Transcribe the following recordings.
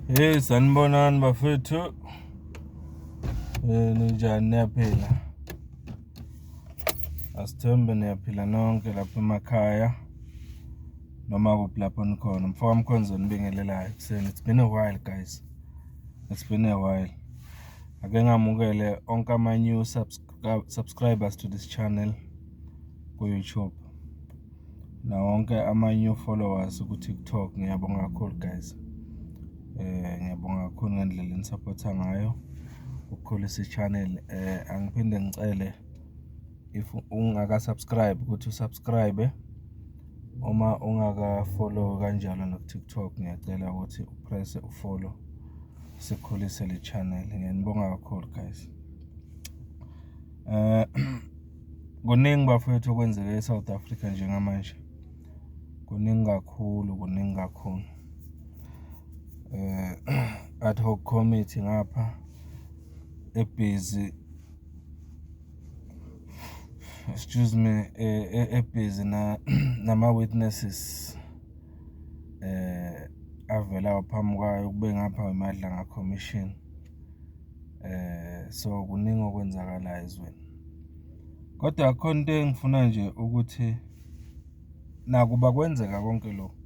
Hey sanibonani bafethu. Eh ninjani niyaphila? Asithembe niyaphila nonke lapha emakhaya. Noma kuphi lapho nikhona. Mfoka Mkhonzo nibingelelayo kuseni. It's been a while guys. It's been a while. Ake ngamukele onke ama new subscribers to this channel ku YouTube. Nawo wonke ama new followers ku TikTok ngiyabonga kakhulu guys. Ngiyabonga kakhulu ngendlela enisaphotha ngayo ukukhulisa i-channel. Angiphinde ngicele if ungaka subscribe ukuthi u subscribe uma ungaka follow kanjalo naku TikTok ngiyacela ukuthi u press u follow sikhulise le channel. Ngiyanibonga kakhulu guys . Kuningi bafowethu okwenzeka eSouth Africa njengamanje. Kuningi kakhulu, kuningi kakhulu. Eh ad hoc committee ngapha ebhizi excuse me eh, eh, ebhizi na nama witnesses eh avela phambi kwayo kube ngapha wemadla nga commission So kuningi okwenzakalayo ezweni. Kodwa khona into engifuna nje ukuthi nakuba kwenzeka konke lokhu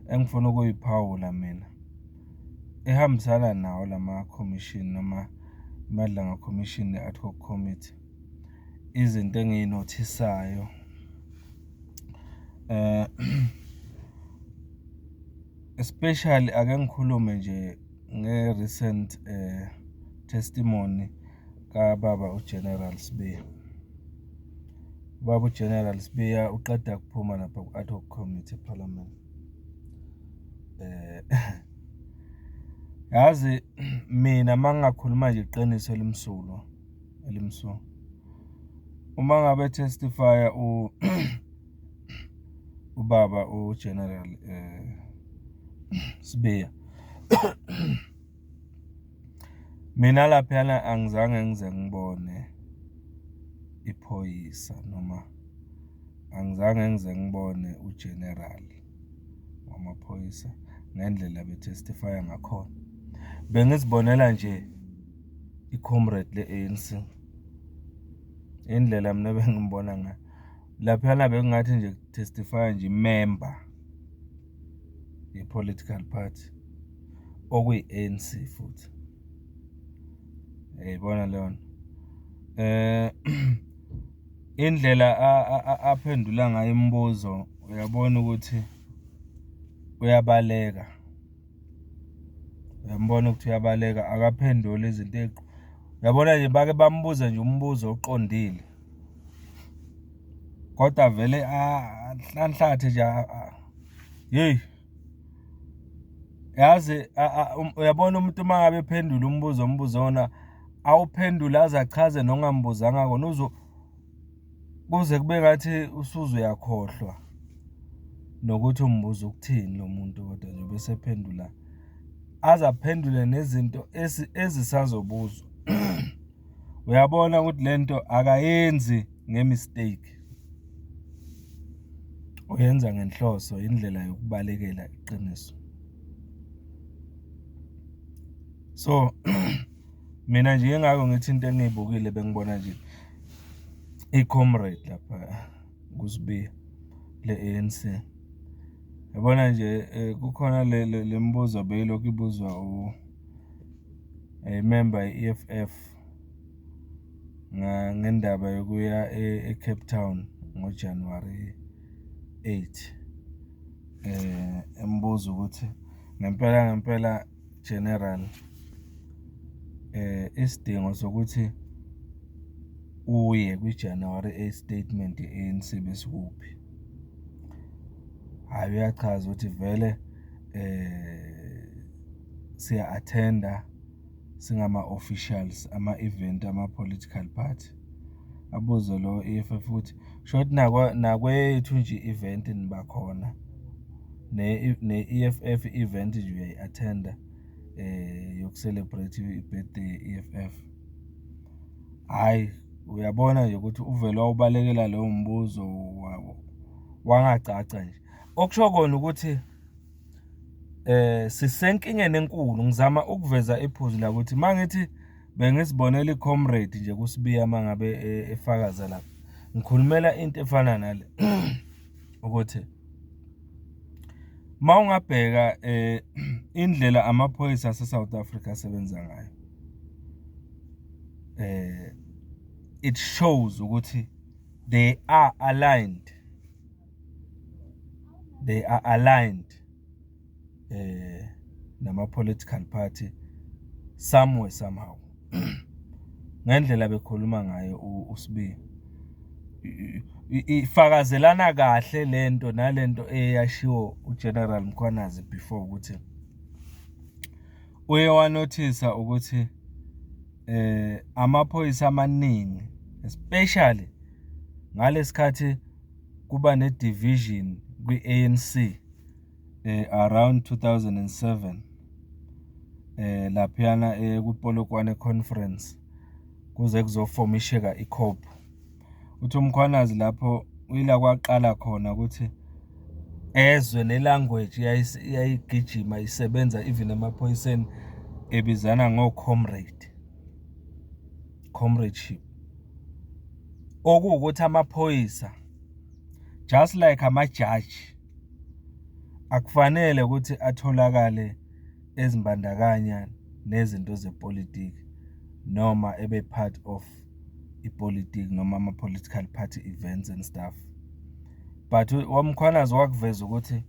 engifuna ukuyiphawula mina ehambisana nawo lama khomishini noma aMadlanga Commission ne-Ad Hoc Committee. Izinto engiyinothisayo especially ake ngikhulume nje. nge-recent um testimony kababa uGeneral Sibiya. Ubaba uGeneral Sibiya uqeda kuphuma lapha ku-ad hoc committee eParliament. Eh, yazi mina uma ngingakhuluma nje iqiniso elimsulwa elimsulwa uma ngabe testifya u ubaba uGeneral eh Sibiya mina laphana angizange ngize ngibone iphoyisa noma angizange ngize ngibone uGeneral wamaphoyisa ngendlela betestify ngakhona bengizibonela nje i-comrade le-ANC indlela mina bengimbona ngayo laphana bekungathi nje testify nje member ye political party okuyi ANC futhi yayibona leyo nto eh indlela aphendula ngayo imibuzo uyabona ukuthi uyabaleka uyambona ukuthi uyabaleka akaphenduli izinto eqo uyabona nje bake bambuze nje umbuzo oqondile kodwa vele anhlanhlathe nje hey yazi um, uyabona umuntu uma ngabe phendula umbuzo ombuzo wona awuphendule aze achaze nongambuzanga kona uzo kuze kube ngathi usuze uyakhohlwa nokuthi umbuzo ukuthini lo muntu kodwa nje bese phendula aze aphendule nezinto ezisazobuzwa uyabona ukuthi lento akayenzi ngemistake uyenza ngenhloso indlela yokubalekela iqiniso so mina nje engako ngithi into engiyibukile bengibona nje i-comrade lapha kusibiya le-ANC yabona nje eh, kukhona le mibuzo beyilokhu ibuzwa Ngayimemba i-E_F_F ngendaba yokuya e-Cape Town ngo-January eight, embuza ukuthi ngempela ngempela General isidingo sokuthi uye kwi-January eight statement ye-A_N_C besikuphi? Hhayi, uyachaza ukuthi vele . siya-attend-a singama-officials ama-event ama-political party. Abuze lo E_F_F ukuthi shuthi nakweyethu nje i-event niba khona ne-E_F_F i-event nje uyayi-attend-a yoku-celebrate i-birthday ye-E_F_F. Hhayi, uyabona nje ukuthi uvele wawubalekela lowo mbuzo wangagcagca nje. Okusho kona ukuthi. eh sisenkingeni enkulu ngizama ukuveza iphuzu la ukuthi mangithi bengizibonela icomrade nje kusibiya mangabe e, efakaza lapha ngikhulumela into efana nale ukuthi mawungabheka eh indlela amaphoyisa ase South Africa asebenza ngayo eh it shows ukuthi they are aligned they are aligned eh nama political party somewhere somehow ngendlela bekhuluma ngayo uSibi ifakazelana kahle lento nalento eyashiwo uGeneral Mkhwanazi before ukuthi uye wanothisa ukuthi eh amaphoyisa amaningi especially ngalesikhathi kuba ne division kwi ANC eh, around 2007 eh laphana eh, ku Polokwane conference kuze kuzofomisheka i COP uthi umkhwanazi lapho uyila kwaqala khona ukuthi ezwe ne language yayigijima isebenza even emaphoyiseni ebizana ngo comrade comradeship okuwukuthi amaphoyisa just like amajaji akufanele ukuthi atholakale ezimbandakanya nezinto zepolitiki noma ebe part of ipolitiki noma ama-political party events and stuff but wamkhwanazi wakuveza ukuthi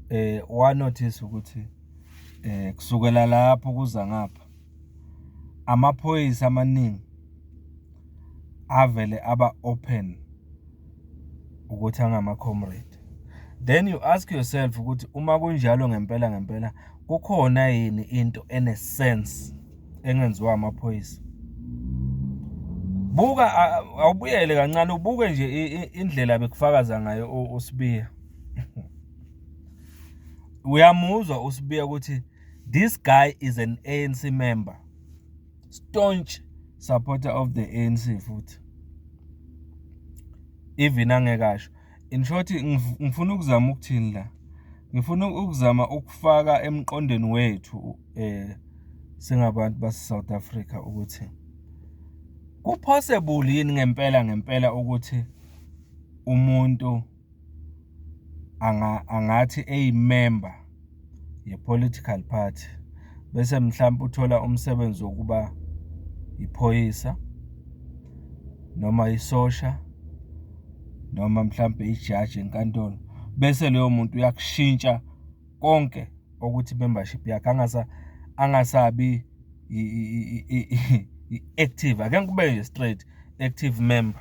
eh wanotice ukuthi eh kusukela lapho kuza ngapha amaphoyisa amaningi avele aba open ukuthi angama comrade then you ask yourself ukuthi uma kunjalo ngempela ngempela kukhona yini into ene sense engenziwa amaphoyisa buka awubuyele kancane ubuke nje indlela bekufakaza ngayo uSibiya uyamuzwa uSibiya ukuthi This guy is an ANC member. Staunch supporter of the ANC futhi. Even angekasho. In short ngifuna ukuzama ukuthini la. Ngifuna ukuzama ukufaka emqondweni wethu eh singabantu base South Africa ukuthi kupossible yini ngempela ngempela ukuthi umuntu angathi eyimemba ye-political party bese mhlawumpe uthola umsebenzi wokuba iphoyisa noma isosha noma mhlawumbe ijaji enkantolo, bese loyo muntu uyakushintsha konke okuthi i-membership yakhe angasabi i-active, akekho ube straight active member.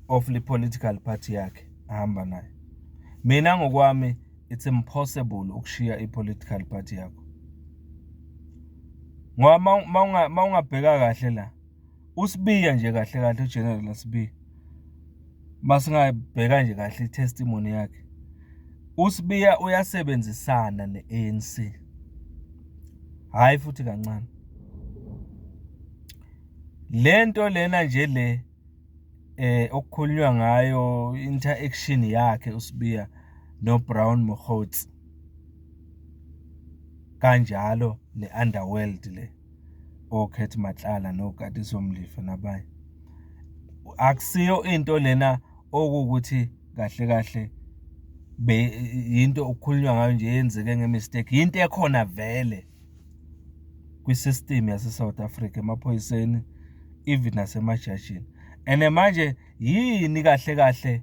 of le political party yakhe ahamba nayo mina ngokwami it's impossible ukushiya i-political party yakho ngoba ma ungabheka kahle la usibiya nje kahle kahle ugeneral asibiya masingabheka nje kahle i-testimony yakhe usibiya uyasebenzisana ne-anc hhayi futhi kancane lento lena nje le eh okukhulunywa ngayo interaction yakhe uSibiya noBrown Mokgotsi kanjalo ne-underworld le oKhethi oh, Matlala noKatiso Mlifa nabanye akusiyo into lena okuwukuthi kahle kahle be yinto okukhulunywa ngayo nje yenzeke ngemistake yinto ekhona vele kwi-system yase-South Africa emaphoyiseni even nasemajajini and manje yini kahle kahle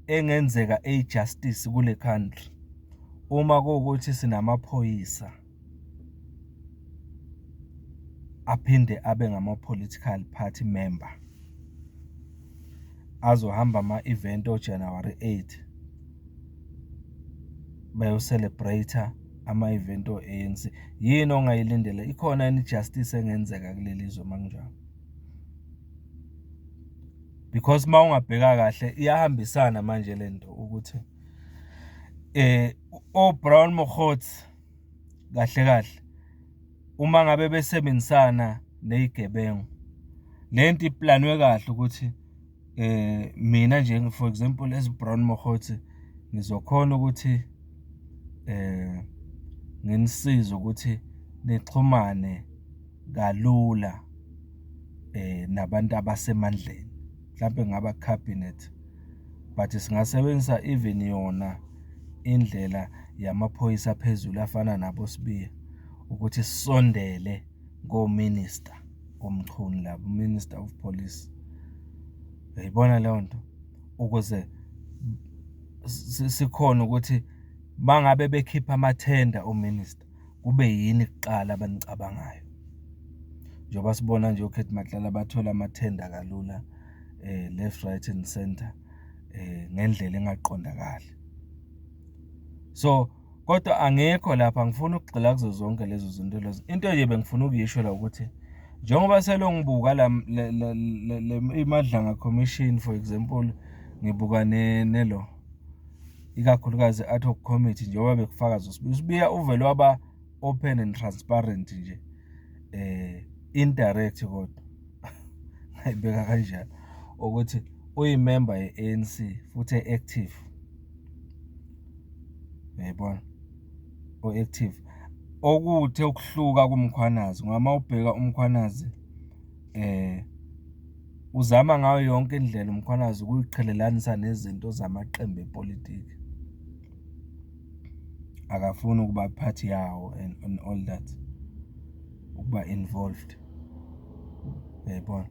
engenzeka eyijustice kule country uma kuwukuthi sinamaphoyisa aphinde abe ngama-political party member azohamba ama-event ojanuwari 8 bayo-celebrate-a ama-event o-A_N_C. Yini ongayilindela? Ikhona yini i-justice engenzeka kuleli zwe uma kunjalo? Because uma ungabheka kahle iyahambisana manje le nto ukuthi o-Brown Mokgotsi kahle kahle. uma ngabe besebenzisana nezigebengu lento iplanwe kahle ukuthi eh mina nje for example as Brown Mohothi ngizokhona ukuthi eh nginisiza ukuthi nixhumane kalula eh nabantu abasemandleni mhlampe ngaba cabinet but singasebenzisa even yona indlela yamaphoyisa phezulu afana nabo sibiya ukuthi sisondele ngo minister omchunu labo minister of police uyayibona leyo nto ukuze sikhona ukuthi bangabe bekhipha amathenda ominister kube yini kuqala abanicabangayo njengoba sibona nje oKhethi Matlala bathola amathenda kalula eh left right and center eh ngendlela engaqondakali so kodwa angekho lapha ngifuna ukugxila kuzo zonke lezo zinto lezo into nje bengifuna ukuyisho la ukuthi njengoba selongibuka la imadlanga commission for example ngibuka ne nelo ikakhulukazi i-ad hoc committee njengoba bekufakaza usibiya usibiya uvele waba open and transparent nje eh indirect kodwa ngayibeka kanjalo ukuthi uyimember ye-ANC futhi active yayibona o-active okuthe ukuhluka kumkhwanazi ngoba uma ubheka umkhwanazi Uzama ngayo yonke indlela uMkhwanazi ukuyiqhelelanisa nezinto zamaqembu epolitiki, akafuni ukuba part yawo and on all that, ukuba involved, uyayibona?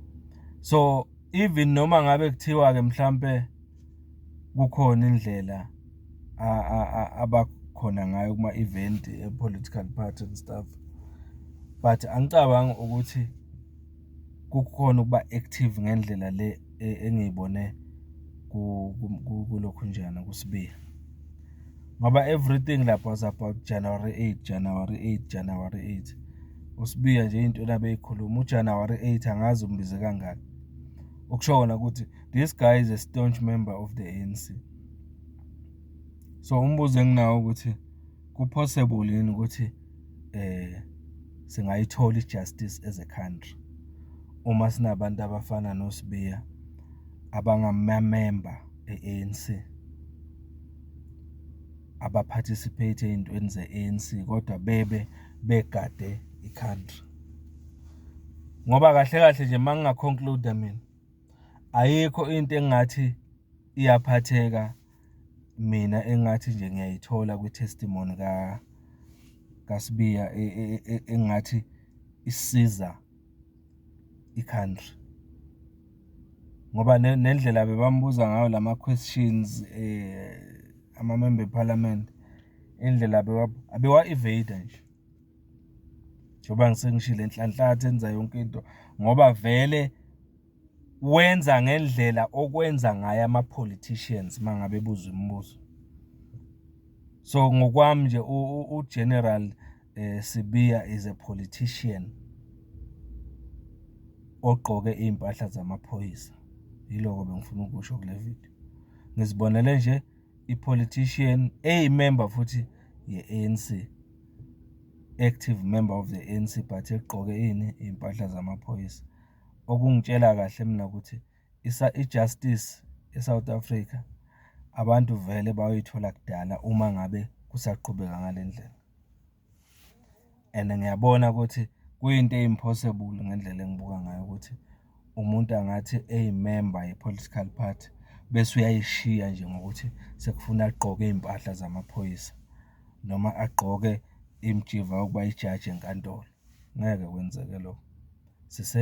So, even noma ngabe kuthiwa-ke mhlampe. kukhona indlela abakhona ngayo kuma-event e-political party and stuff but angicabangi ukuthi kukhona ukuba active ngendlela le engiyibone kulokhunjana kuSibiya. Ngoba everything lapho was about January 8, January 8, January 8. USibiya nje into abeyikhuluma uJanuary 8 angazi umbize kangaki. Okusho kona ukuthi this guy is a staunch member of the ANC so umbuzo enginawo ukuthi kupossible yini ukuthi eh singayithola ijustice as a country uma sinabantu abafana noSibiya abangamamember e-ANC abaparticipate ey'ntweni ze-ANC kodwa bebe begade i-country ngoba kahle kahle nje uma ngingaconcluda mina ayikho into engathi iyaphatheka mina engathi nje ngiyayithola kwi-testimony ka kaSibiya e, e, e, engathi isiza i-country ngoba nendlela bebambuza ngayo lama questions eh ama member parliament indlela bewa abewa evade nje njengoba ngisengishile nhlanhlatha enza yonke into ngoba vele wenza ngendlela okwenza ngayo ama-politicians uma ngabe buza imibuzo so ngokwami nje ugeneral eh, sibiya is a politician ogqoke iy'mpahla zamaphoyisa yiloko bengifuna ukusho kule video ngizibonele nje ipolitician eyimember futhi ye-ANC active member of the ANC but egqoke ini iy'mpahla zamaphoyisa okungitshela kahle mina ukuthi i-justice e-South Africa abantu vele bayoyithola kudala uma ngabe kusaqhubeka ngale ndlela. and ngiyabona ukuthi kuyinto e-impossible ngendlela engibuka ngayo ukuthi umuntu angathi eyimemba ye-political party bese uyayishiya nje ngokuthi sekufuna agqoke iy'mpahla zamaphoyisa noma agqoke imijiva yokuba yijaji enkantolo, ngeke kwenzeke lokho.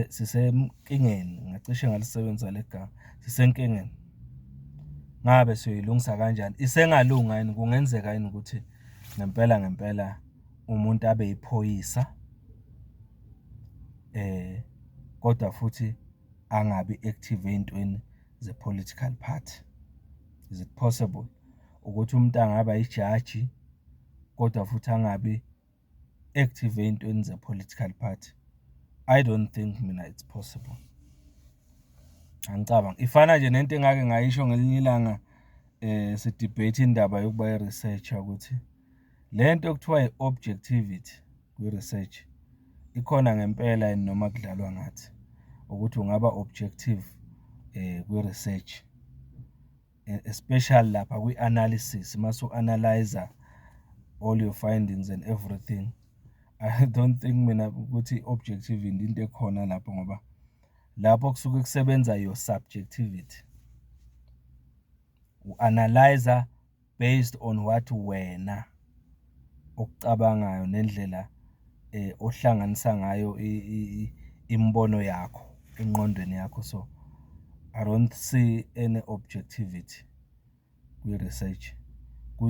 sisenkingeni ngacishe ngalisebenzisa le gama sisenkingeni ngabe siyoyilungisa kanjani isengalunga yini kungenzeka yini ukuthi ngempela ngempela umuntu abe yiphoyisa eh kodwa futhi angabi active ezintweni ze political party is it possible ukuthi umuntu angaba yijaji kodwa futhi angabi active ey'ntweni ze-political party I don't think mina it's possible angicabangi ifana nje nento engake ngayisho ngelinye ilanga eh si-debate indaba yokuba i-researcher ukuthi le nto okuthiwa i-objectivity kwi-research ikhona ngempela yini noma kudlalwa ngathi ukuthi ungaba objective eh kwi-research. e-, especially lapha kwi-analysis uma su-analyza all your findings and everything i don't think mina ukuthi i-objective into ekhona lapho ngoba lapho kusuke kusebenza your subjectivity u-analyza based on what wena okucabangayo nendlela ohlanganisa ngayo imibono yakho engqondweni yakho. So, I don't see any objectivity kwi-research,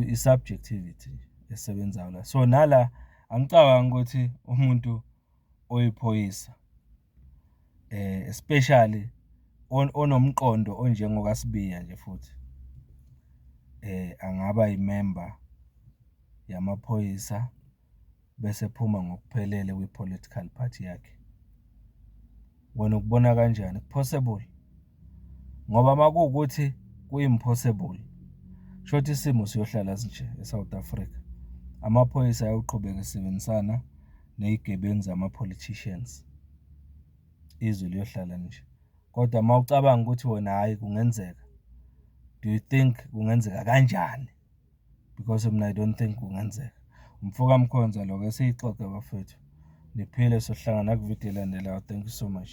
i-subjectivity esebenzayo la. So, nala angicabangi ukuthi umuntu oyiphoyisa especially onomqondo onjengoka Sibiya nje futhi angaba yimemba yamaphoyisa bese ephuma ngokuphelele kwi-political party yakhe. Wena ukubona kanjani, ku-possible? ngoba makuwukuthi kuyi-impossible shothi isimo siyohlala sinje e-south africa amaphoyisa ayoqhubeka esebenzisana ney'gebengu zama-politicians izwe liyohlala nje kodwa uma ucabanga ukuthi wena hhayi kungenzeka do you think kungenzeka kanjani because mina i don't think kungenzeka umfoka mkhonza lokho esiyixoxe bafethu niphile sohlangana kuvidiyo elandelayo thank you so much